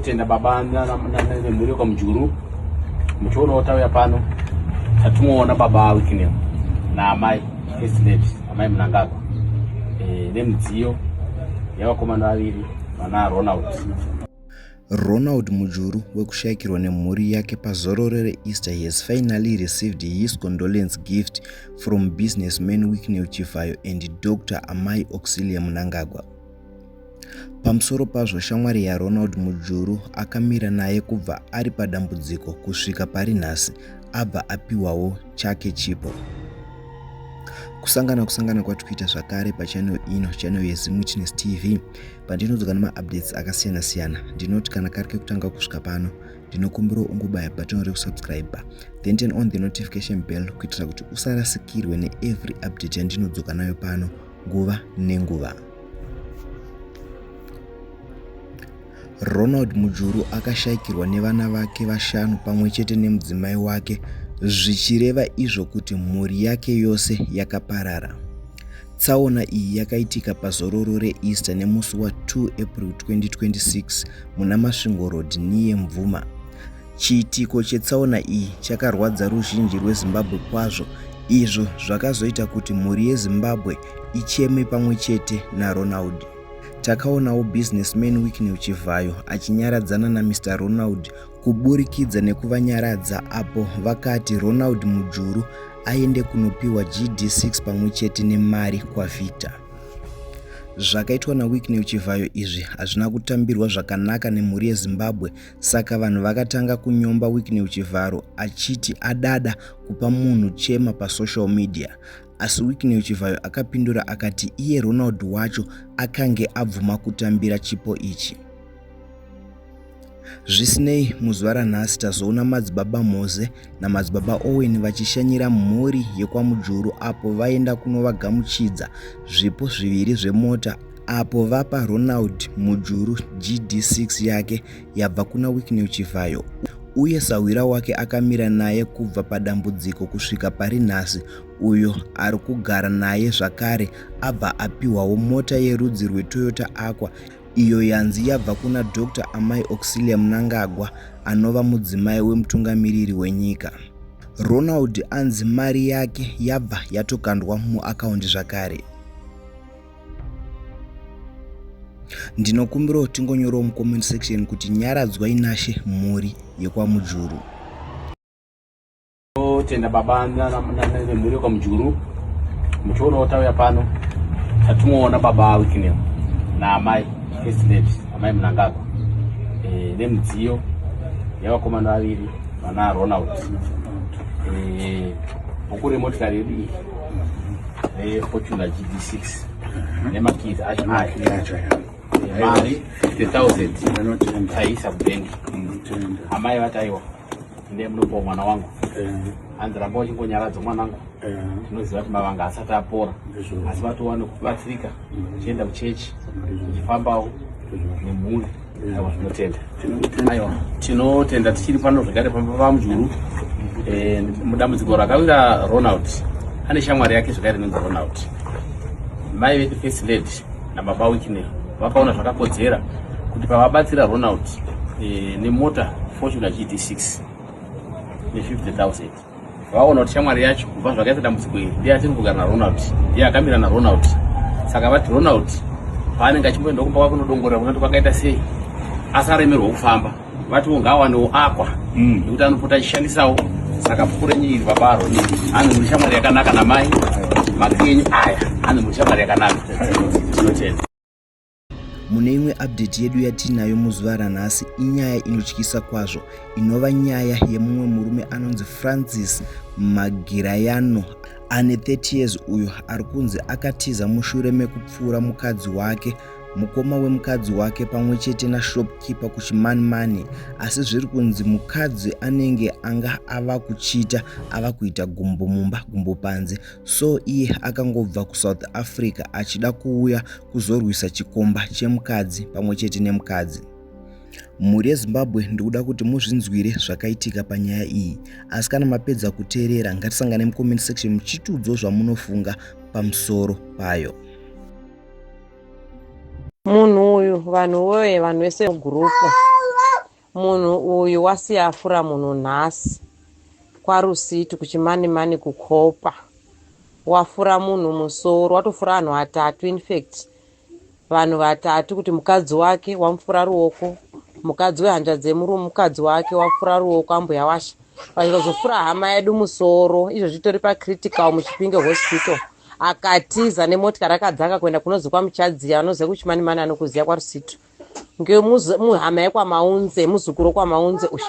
Tenda baba nemhuri yokwamujuru muchionawo tauya pano tatimoona baba wikineo naamai first lady amai munangagwa e, nemidziyo yavakomana vaviri vana ronald ronald mujuru wekushayikirwa nemhuri yake pazororo reeaster he has finally received his condolence gift from businessman wikineo chivhayo and dr amai auxilia munangagwa Pamusoro pazvo, shamwari yaRonald Mujuru akamira naye kubva ari padambudziko kusvika pari nhasi abva apiwawo chake chipo. Kusangana kusangana kwatikuita zvakare pachannel ino, channel yeZimuchiness TV, pandinodzoka nemaupdates akasiyana siyana. Ndinoti kana kari kekutanga kusvika pano, ndinokumbira ungobaya button rekusubscribe then turn on the notification bell kuitira kuti usarasikirwe neevery update yandinodzoka nayo pano nguva nenguva. Ronald Mujuru akashaikirwa nevana vake vashanu pamwe chete nemudzimai wake zvichireva izvo kuti mhuri yake yose yakaparara. Tsaona iyi yakaitika pazororo reEaster nemusi wa 2 April 2026 muna Masvingo Road, Niye Mvuma. Chiitiko chetsaona iyi chakarwadza ruzhinji rweZimbabwe kwazvo izvo zvakazoita kuti mhuri yeZimbabwe icheme pamwe chete naRonald. Takaonawo businessman Wicknell Chivhayo achinyaradzana naMr Ronald kuburikidza nekuvanyaradza apo vakati Ronald Mujuru aende kunopiwa GD6 pamwe chete nemari kwaVictor. Zvakaitwa naWicknell Chivhayo izvi hazvina kutambirwa zvakanaka nemhuri yeZimbabwe Saka vanhu vakatanga kunyomba Wicknell Chivharo achiti adada kupa munhu chema pasocial media asi Wicknell Chivhayo akapindura akati iye Ronald wacho akange abvuma kutambira chipo ichi. Zvisinei, muzuva ranhasi tazoona madzibaba Moze naMadzibaba Owen vachishanyira mhuri yekwaMujuru apo vaenda kunovagamuchidza zvipo zviviri zvemota apo vapa Ronald Mujuru GD6 yake yabva kuna Wicknell Chivhayo uye sahwira wake akamira naye kubva padambudziko kusvika pari nhasi uyo ari kugara naye zvakare abva apiwawo mota yerudzi rwetoyota aqua iyo yanzi yabva kuna Doctor Amai Auxilia Mnangagwa anova mudzimai wemutungamiriri wenyika. Ronald anzi mari yake yabva yatokandwa muakaundi zvakare. Ndinokumbirawo tingonyorawo mucomment section kuti nyaradzwai nashe mhuri yekwamujuru. Tenda baba nemhuri yokwamujuru muchionawo tauya pano tatimoona baba wikinel naamai first lady amai munangagwa e, eh, nemidziyo yavakomana vaviri vana ronald e, bhuku remotikari yedu iyi refortuna gd 6 nemakizi acho aya eh, mari 50 000 taisa kubengi amai vataiwa ndiye munopa mwana wangu hanzi ramba uchingonyaradzo mwanangu tinoziva kuti mavanga asati apora asi vatowane kubatsirika uchienda kuchechi uchifambawo nemhuri aiwa zvinotenda aiwa tinotenda tichiri pano zvekare pamba pamujuru eh, mudambudziko rakawira ronald ane shamwari yake zvekare inonzi ronald mai vedu face lady nababa Wicknell vakaona zvakakodzera kuti pavabatsira Ronald e, nemota Fortuna GT6 ne50000 vaona kuti shamwari yacho kubva zvakaita dambudziko iri ndiye atiri kugara naRonald ndiye akamira naRonald saka vati Ronald paanenge achimboenda kumba kwake unodongorera kunati kwakaita sei asaremerwa kufamba vatiwo ngaawanewo akwa mm. nekuti anopota achishandisawo saka pfuko renyu iri babaro ane muri shamwari yakanaka namai maki enyu aya ane muri shamwari yakanaka tinotenda mune imwe update yedu yatiinayo muzuva ranhasi inyaya inotyisa kwazvo inova nyaya yemumwe murume anonzi francis magirayano ane 30 years uyo ari kunzi akatiza mushure mekupfuura mukadzi wake mukoma wemukadzi wake pamwe chete nashopkeeper kuchimanimani asi zviri kunzi mukadzi anenge anga ava kuchita ava kuita gumbo mumba gumbo panze so iye akangobva kusouth africa achida kuuya kuzorwisa chikomba chemukadzi pamwe chete nemukadzi mhuri yezimbabwe ndikuda kuti muzvinzwire zvakaitika panyaya iyi asi kana mapedza kuteerera ngatisangane mucomment section muchitiudzo zvamunofunga pamusoro payo munhu uyu vanhu woye vanhu vese mugurupu munhu uyu wasiya afura munhu nhasi kwarusiti kuchimanimani kukopa wafura munhu musoro watofura vanhu vatatu infact vanhu vatatu kuti mukadzi wake wamufura ruoko mukadzi wehanja dzemurume mukadzi wake wafura ruoko ambuya washa vachikazofura hama yedu musoro izvo zvitori pacritical muchipinge hospital akatiza nemotikari akadzaka kuenda kunozi kwamuchadziya vanoziva kuchimani mani anokuziva kwarusitu ngemuhama yekwamaunze muzukuru wekwamaunze uyu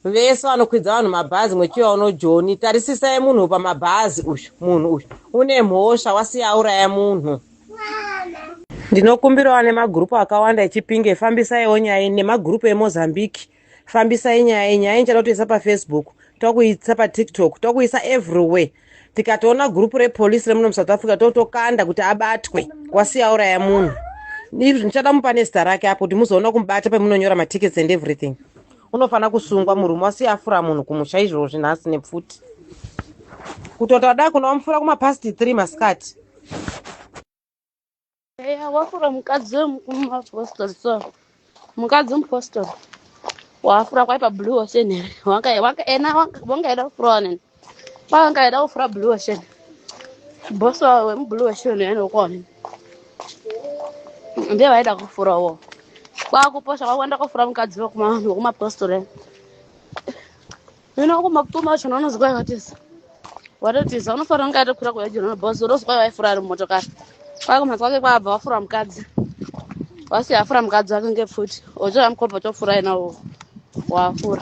vese vanokwidza vanhu mabhazi mwechiva uno joni tarisisai munhu pamabhazi uyu munhu uyu une mhosva wasiya auraya munhu ndinokumbirawo nemagrupu akawanda echipinge fambisaiwo nyaya nemagrupu emozambique fambisai nyaya iyi nyaya inchada kutoisa pafacebook tokuisa patiktok tokuisa everywhere tikatoona gurupu repolisi remuno musouth africa totokanda kuti abatwe wasiya uraya munhu izvi ndichada mupa nezita rake apo kuti muzoona kumubata pamunonyora matickets and everything unofanira kusungwa murume wasiya afura munhu kumusha izvoo zvinhasi nepfuti kutota da kunovamufura kumapasti three masikati Eya wafura mukadzi wemupostori so mukadzi wemupostori wafura kwaipa blue ocean here Wanga- wanga- ena wanga- wangaida kufurawo nini pawangaida kufura blue ocean bosi wawo wemublue ocean ene ukuwo nini ndiye vaida kufurawo kwakuposha kwakuenda kofura mukadzi wekuma- wekumapostori ene. Mina wako makutuma wacho unonozwa watisa. Watotisa unofanira kunge atokura kuya jona boss unozwa waifura ari motokari. Kwako makwake kwabva wafura mukadzi. Wasi afura mukadzi wake ngepfuti. Ojo amkopa tofura ina wafura.